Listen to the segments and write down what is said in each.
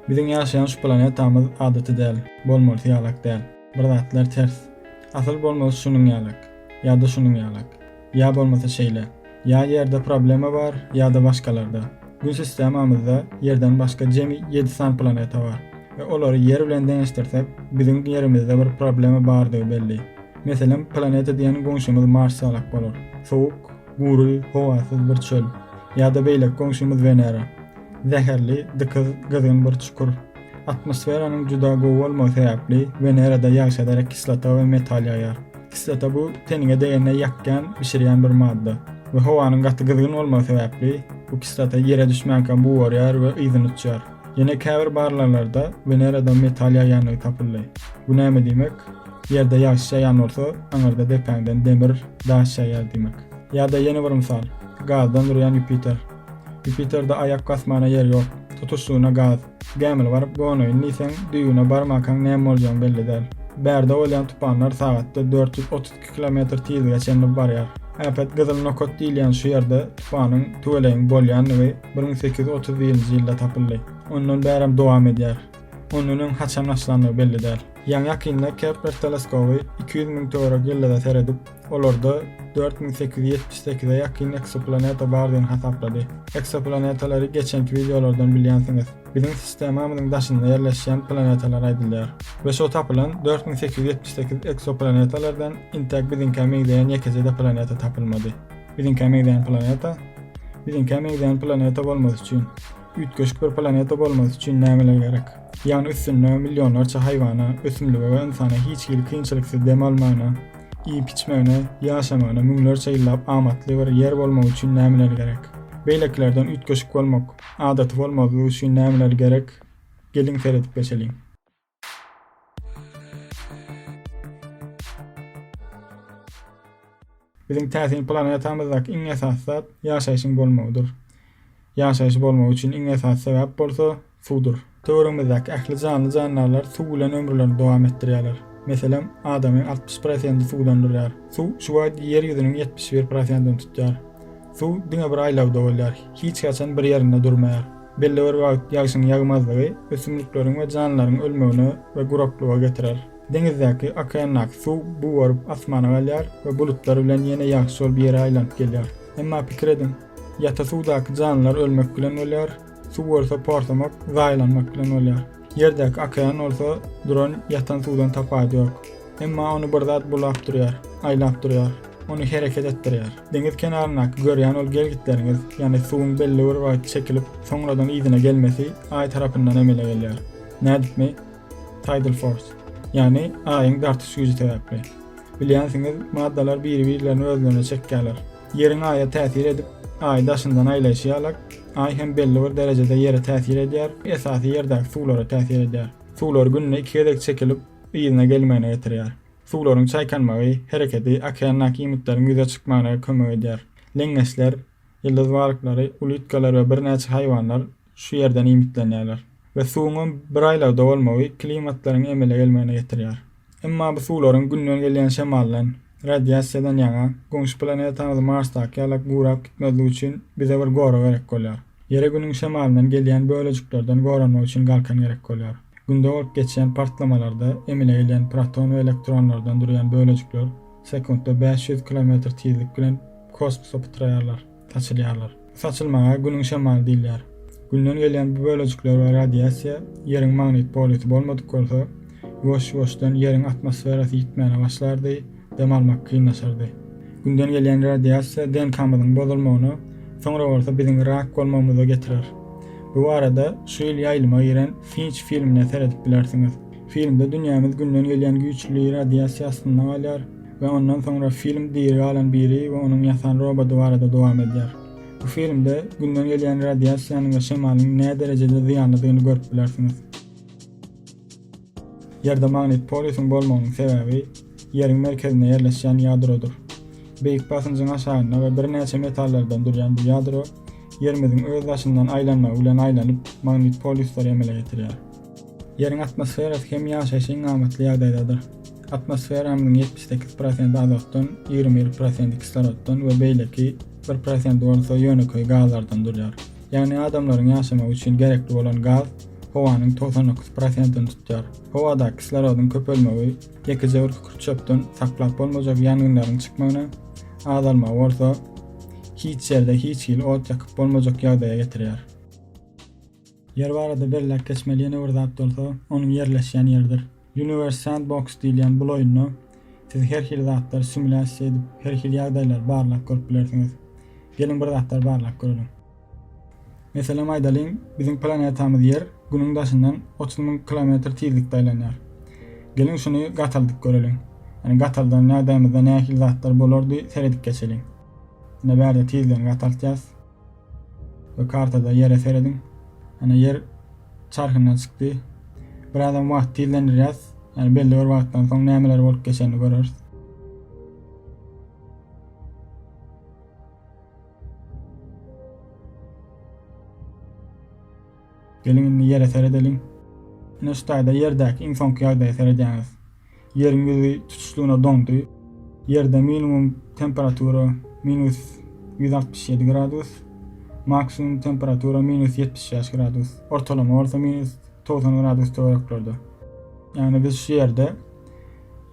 Biziň ýaşaýan şu planetamyz adaty däl, bolmalysy ýalak däl. Bir zatlar ters. Asyl bolmalysy şunuň ýalak. Ýa-da şunuň ýalak. Ýa bolmasa şeýle. Ýa Ýerde problema bar, ýa-da başgalarda. Gün sistemamyzda Ýerden başga jemi ýedi sany planeta bar we olary Ýer bilen deňeşdirsek, biziň Ýerimizde bir problema bardygy belli. Meselem, planeta diýen goňşymyz Mars ýalak bolar. Sowuk. Gury, howasyz bir çöl. Ýa-da beýleki goňşymyz Wenera. Zäherli, dykyz, gyzgyn bir çukur. Atmosferanyň juda gowy bolmagy sebäpli, Wenerada ýagşa derek kislota we metal ýaýar. Kislota bu teniňe degende ýakýan, bişirýän bir madda. We howanyň gaty gyzgyn bolmagy sebäpli, bu kislota ýere düşmänkä bugarýar we yzyny uçýar. Ýene käbir barlaglarda Weneradan metal ýaýýandygy tapyldy. Bu näme diýmek? Ýerde ýagyş ýaýan bolsa, aňyrda depäňden demir, daş ýaýýar diýmek. Ýa-da ýene bir mysal, gazdan durýan Ýupiter. Ýupiterde aýak basmana ýer ýok, tutuşlygyna gaz. Gämili baryp gonaýyn diýseň, düýbüne barmakaň näme boljagyň belli däl. Bärde bolýan tupanlar sagatda dört ýüz 2 kilometr tizlige çenli barýar. Äpet gyzyl nokat diýilýän şu ýerde tupanyň tüwelegiň bolýandygy 1831-nji ýylda tapyldy. Ondan bärem dowam edýär. Ondan öň haçan başlandygy belli däl. Ýaňy-ýakynda Kepler teleskoby iki ýüz müň töwerek ýyldyza seredip, olarda dört müň sekiz ýüz ýetmiş sekize ýakyn eksoplaneta bardygyny hasaplady. Eksoplanetalary geçenki wideolardan bilýänsiňiz. Biziň sistemamyzyň daşynda ýerleşýän planetalar aýdylýar we şo tapylan dört müň sekiz ýüz ýetmiş sekiz eksoplanetalardan intäk biziňkä meňzeýän ýekeje-de planeta tapylmady. Biziňkä meňzeýän planeta? Biziňkä meňzeýän planeta bolmasy üçin, üýtgeşik bir planeta bolmasy üçin nämeler gerek? Ýagny üstünde millionlarça haýwana, ösümlige we ynsana hiç hili kynçylyksy dem almagyna, iýip-içmegine, ýaşamagyna müňlerçe ýyllap amatly bir ýer bolmagy üçin nämeler gerek? Beýlekilerden üýtgeşik bolmak, Adaty bolmazlyk üçin nämeler gerek? Geliň seredip geçeliň. Biziň täsin planetamyzdaky iň esasy zat ýaşaýşyň bolmagydyr. Ýaşaýşy bolmagy üçin iň esasy sebäp bolsa suwdur. Töweregimizdäki ähli janly-jandarlar suw bilen ömürlerini dowam etdirýärler. Meselem, adamyň altmyş prosenti suwdan durýar. Suw şu wagt Ýer ýüzüniň ýetmiş bir prosentini tutýar. Suw diňe bir aýlawda bolýar, hiç haçan bir ýerinde durmaýar. Belli bir wagt ýagşyň ýagmazlygy ösümlikleriň we janlylaryň ölmegine we guraklyga getirer. Deňizdäki, okeandaky suw buwaryp asmana galýar we bulutlar bilen ýene ýagşy bolup ýere aýlanyp gelýär. Emma pikir ediň, ýata suwdaky janlylar ölmek bilen bolýar, Suw bolsa porsamak, zaýalanmak bilen bolýar. Ýerdäki okean bolsa duran, ýatan suwdan tapawudy ýok. Emma ony bir zat bulap durýar, aýlap durýar. Ony hereket etdirýär. Deňiz kenaryndaky görýän ol gelgitleriňiz, ýagny suwuň belli bir wagt çekilip, soňradan yzyna gelmesi Aý tarapyndan emele gelýär. Nädipmi? Tidal force. Ýagny Aýyň dartyş güýji sebäpli. Bilýänsiňiz, maddalar biri-birlerini özlerine çekýärler. Ýeriň Aýa täsir edip, Aý daşyndan aýlaýşy ýalak, Aý hem belli bir derejede Ýere täsir edýär, esasy Ýerdäki suwlara täsir edýär. Suwlar günde iki gezek çekilip, yzyna gelmegine getirýär. Suwlaryň çaýkanmagy, hereketi okeandaky iýmitleriň ýüze çykmagyna kömek edýär. Leňňeçler, ýyldyz balyklary, ulitkalar we birnäçe haýwanlar şu ýerden iýmitlenýärler we suwuňam bir aýlagda bolmagy klimatlaryň emele gelmegine getirýär. Emma bu suwlaryň Günden gelýän şemaldan, radiasiýadan ýaňa, goňşy planetamyz Marsdaky ýala gurap gitmezligi üçin bize bir gorag gerek bolýar. Ýere Günüň şemalyndan gelýän bölejiklerden goranmak üçin galkan gerek bolýar. Günde bolup geçýän partlamalarda emele gelýän proton we elektronlardan durýan bölejikler sekuntda bäş ýüz kilometr tizlik bilen kosmosa pytraýarlar. Saçylýarlar. Saçylmaga Günüň şamaly diýilýär. Günden gelýän bu bölejikler we radiasiýa Ýeriň magnit polýusy bolmadyk bolsa, ýuwaş-ýuwaşdan Ýeriň atmosferasy ýitmäne başlardy, dem almak kynlaşardy. Günden gelýän radiasiýa DNK-myzyň bozulmagyna, soňra bolsa biziň rak bolmagymyza getirer. Bu barada şu ýyl ýaýlyma giren Finç filmine seredip bilersiňiz. Filmde dünýämiz Günden gelýän güýçli radiasiýa astynda galýar. we ondan soňra film diri galan biri we onuň ýasan roboty barada dowam edýär. Bu filmde Günden gelýän radiasiýanyň we şemalyň näderejede zyýanlydygyny görüp bilersiňiz. Ýerde magnit polýusyň bolmagynyň sebäbi Ýeriň merkezinde ýerleşýän ýadrodyr. Beýik basynjyň aşagynda we birnäçe metallardan durýan bu ýadro Ýerimiziň öz daşyndan aýlanmagy bilen aýlanyp, magnit polýuslary emele getirýär. Ýeriň atmosferasy hem ýaşaýşa iň amatly ýagdaýdadyr. Atmosferamyzyň ýetmiş sekiz prosenti azotdan, ýigrimi bir prosenti kislorotdan we beýleki bir prosenti bolsa ýönekeý gazlardan durýar. Ýagny adamlaryň ýaşamagy üçin gerekli bolan gaz howanyň togsan dokuz prosentini tutýar. Howada kislorodyň köpelmegi ýekejewür kükürt-çöpden saklap bolmajak ýangynlaryň çykmagyna, azalmagy bolsa hiç ýerde hiç hili ot ýakyp bolmajak ýagdaýa getirýär. Ýer barada belläp geçmeli ýene bir zat bolsa, onuň ýerleşýän ýeridir. Universe Sandbox diýilýän bul oýunda siz her hili zatlary simulýasiýa edip, her hili ýagdaýlary barlap görüp bilersiňiz. Geliň bir zatlary barlap göreliň. Meselem aýdalyň, biziň planetamyz Ýer Günüň daşyndan otuz müň kilometr tizlikde aýlanýar. Geliň şuny gataldyp göreliň. Ýagny gataldan ýagdaýymyzda nähili zatlar bolardy seredip geçeliň. Ine bärde tizligini gataltýas. Bu kartada ýere serediň. Ana ýer çarhyndan çykdy. Birazam wagt tizlendirýäs. Ýani belli bir wagtdan soň nämeler bolup geçenini göreris. Geliň indi ýere seredeliň. Ine şu taýda ýerdäki iň soňky ýagdaýa seredýäňiz. Ýeriň ýüzi tutuşlygyna doňdy. Ýerde minimum temperatura minus ýüz altmyş ýedi gradus, maksimum temperatura minus ýetmiş bäş gradus, ortalama bolsa minus togsan gradus töwereklerde. Ýagny biz şu ýerde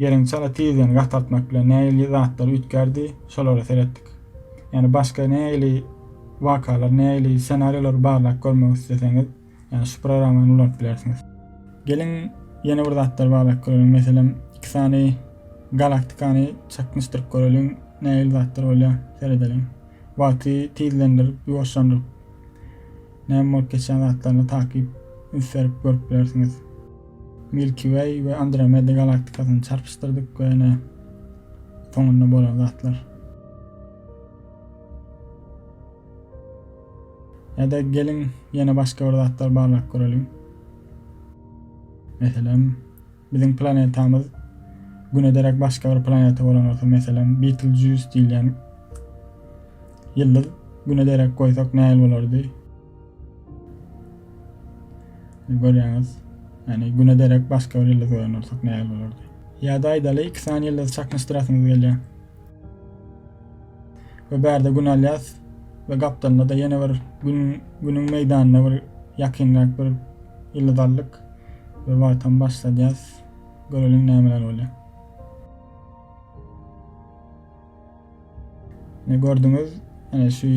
Ýeriň çala tizligini gataltmak bilen nähili zatlar üýtgärdi, şolara seretdik. Ýagny başga nähili wakalar, nähili ssenariýalary barlap görmek isleseňiz, Yani şu programmany ulanyp bilersiňiz. Geliň ýene bir zatlar barlap göreliň. Meselem, iki sany galaktikany çaknyşdyryp göreliň. Nähili zatlar bolýar? Seredeliň. Wagty tizlendirip, ýuwaşlandyryp, näme bolup geçýän zatlaryny takyp üns berip görüp bilersiňiz. Milky Way we Andromeda galaktikasyny çarpyşdyrdyk we ene soňunda bolan zatlar. Ýa-da geliň ýene başga bir zatlar barlap göreliň. Meselem, biziň planetamyz Güne derek başga bir planeta bolan bolsa, meselem, Betelgeuse diýilýän ýyldyz Güne derek goýsak nähili bolardy? Görýäňiz, ýani Güne derek başga bir ýyldyz goýan bolsak nähili bolardy? Ýa-da aýdaly, iki sany ýyldyzy çaknyşdyrasyňyz gelýär. We bärde gün alýas we gapdalynda da ýene bir gün günüň meýdanyna bir ýakynrak bir ýyldyz aldyk we wagtam başladýas. Göreliň nämeler bolýar. Ne gördüňiz? Ene şu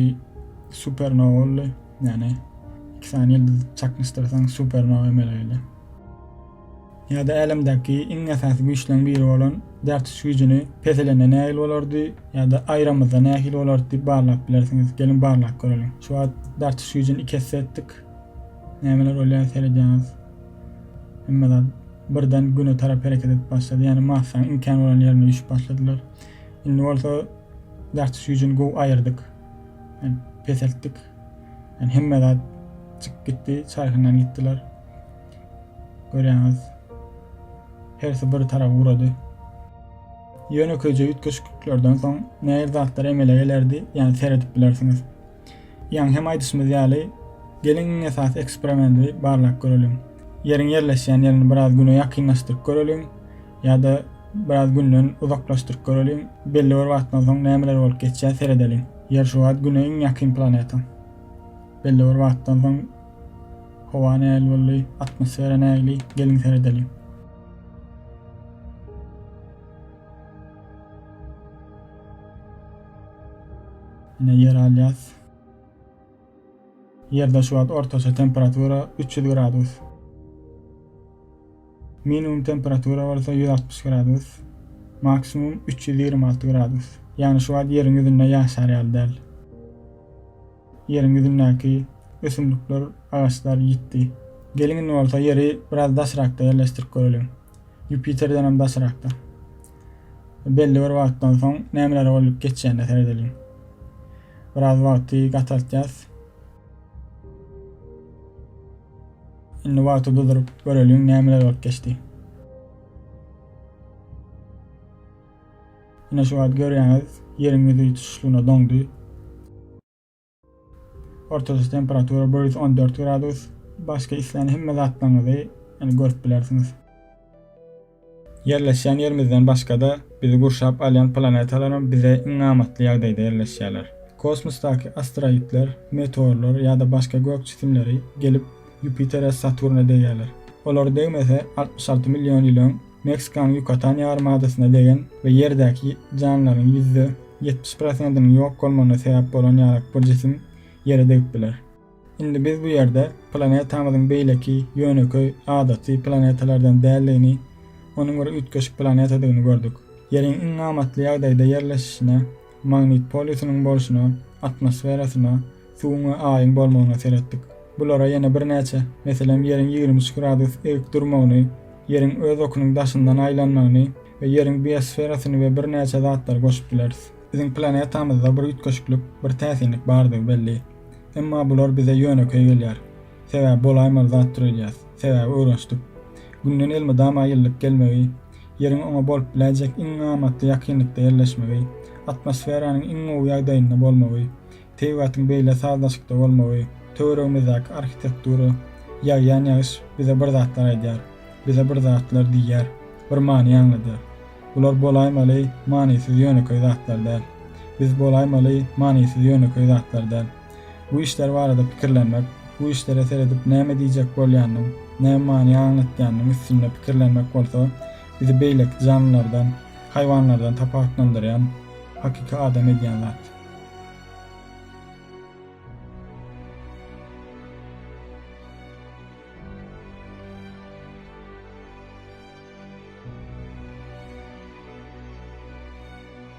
supernowa boldy. Ýani iki sany ýyldyz çaknyşdyrsaň supernowa emele gelýär. Ýa-da älemdäki iň esasy güýçleriň biri bolan däp tutuş güýjüni peselende nähili bolardy? Ýa-da aýramyzda nähili bolardy diýip barlap bilersiňiz. Geliň barlap göreliň. Şu wagt däp tutuş güýjüni iki esse etdik. Nämeler bolýar seredýäňiz. Hemme zat birden Güne tarap hereket edip başlady. Ýagny Marsaň imkan bolan ýerine düşüp başladylar. Indi bolsa däp tutuş güýjüni gowy aýyrdyk. Peseltdik. Ýagny hemme zat çykyp gitdi, çarhyndan gitdiler. Görýäňiz, hersi bir tarap ugrady. Ýönekeýje üýtgeşikliklerden soň nähili zatlar emele gelerdi, ýa seredip bilersiňiz. Ýaňy hem aýdyşymyz ýaly, geliň iň esasy eksperimenti barlap göreliň. Ýeriň ýerleşýän ýerini biraz Güne ýakynlaşdyryp göreliň, ýa-da biraz Günden uzaklaşdyryp göreliň, belli bir wagtdan soň nämeler bolup geçýär seredeliň. Ýer şu wagt Güne iň ýakyn planeta. Belli bir wagtdan soň. Howa nähili boldy? Atmosfera nähili? Geliň seredeliň. Ine ýer alýas. Ýerde şu wagt ortaça temperatura 300 gradus. Minimum temperatura bolsa 160 gradus. Maksimum 326 gradus. Ýagny şu wagt ýeriň ýüzünde ýaşar ýaly däl. Ýeriň ýüzündäki ösümlikler, agaçlar ýitdi. Geliň indi bolsa Ýeri biraz daşrakda ýerleşdirip göreliň. Ýupiterdenem daşrakda. Belli bir wagtdan soň nämeler bolup geçýänine seredeliň. Biraz wagty gataltýas. Indi wagty duduryp göreliň nämeler bolup geçdi. Ine şu wagt görýäňiz ýeriň ýüzi tutuşlygyna doňdy. Ortaça temperatura bir ýüz on dört gradus. Başga islän hemme zatlaryňyzy indi görüp bilersiňiz. Ýerleşýän ýerimizden başga-da bizi gurşap alýan planetalaram bize iň amatly ýagdaýda ýerleşýärler. Kosmosdaky asteroidler, meteorlar ýa-da başga gök jisimleri gelip Ýupitera, Saturna degýärler. Olar degmese altmyş alty million ýyl öň Meksikanyň Ýukatan ýarym adasyna degen we ýerdäki janlaryň ýüzde ýetmiş prosentiniň ýok bolmagyna sebäp bolan ýarak bir jisim Ýere degip biler. Indi biz bu ýerde planetamyzyň beýleki ýönekeý, adaty planetalardan däldigini, onuň bir üýtgeşik planetadygyny gördük. Ýeriň iň amatly ýagdaýda ýerleşişine Magnit polusiniň bolşuna, atmosferasyna, suwuň we Aýyň bolmagyna seretdik. Bulara ýene birnäçe, meselem, Ýeriň ýigrimi üç gradus erik durmagyny, Ýeriň öz okunyň daşyndan aýlanmagyny we Ýeriň biosferasyny we birnäçe zatlary goşup bileris. Biziň planetamyzda bir üýtgeşiklik, bir täsinlik bardygy belli. Emma bular bize ýönekeý gelýär. Sebäbi bolaýmaly zat döredýäs. Sebäbi öwrenşdik. Günden elmydama ýylylyk gelmegi, Ýeriň oňa bolup biläýjek iň amatly ýakynlykda ýerleşmegi, atmosferanyň iň gowy ýagdaýynda bolmagy, tebigatyň beýle sazlaşykda bolmagy, töweregimizdäki arhitektura, ýagýan ýagyş bize bir zatlar aýdýar, bize bir zatlar diýýär, bir many aňladýar. Bular bolaýmaly manysyz ýönekeý zatlar däl. Biz bolaýmaly manysyz ýönekeý zatlar däl. Bu işler barada pikirlenmek, bu işlere seredip näme diýjek bolýanynyň, näme many aňlatýanynyň üstünde pikirlenmek bolsa, bizi beýleki janlylardan, haýwanlardan tapawutlandyrýan, hakyky adam edýän zat.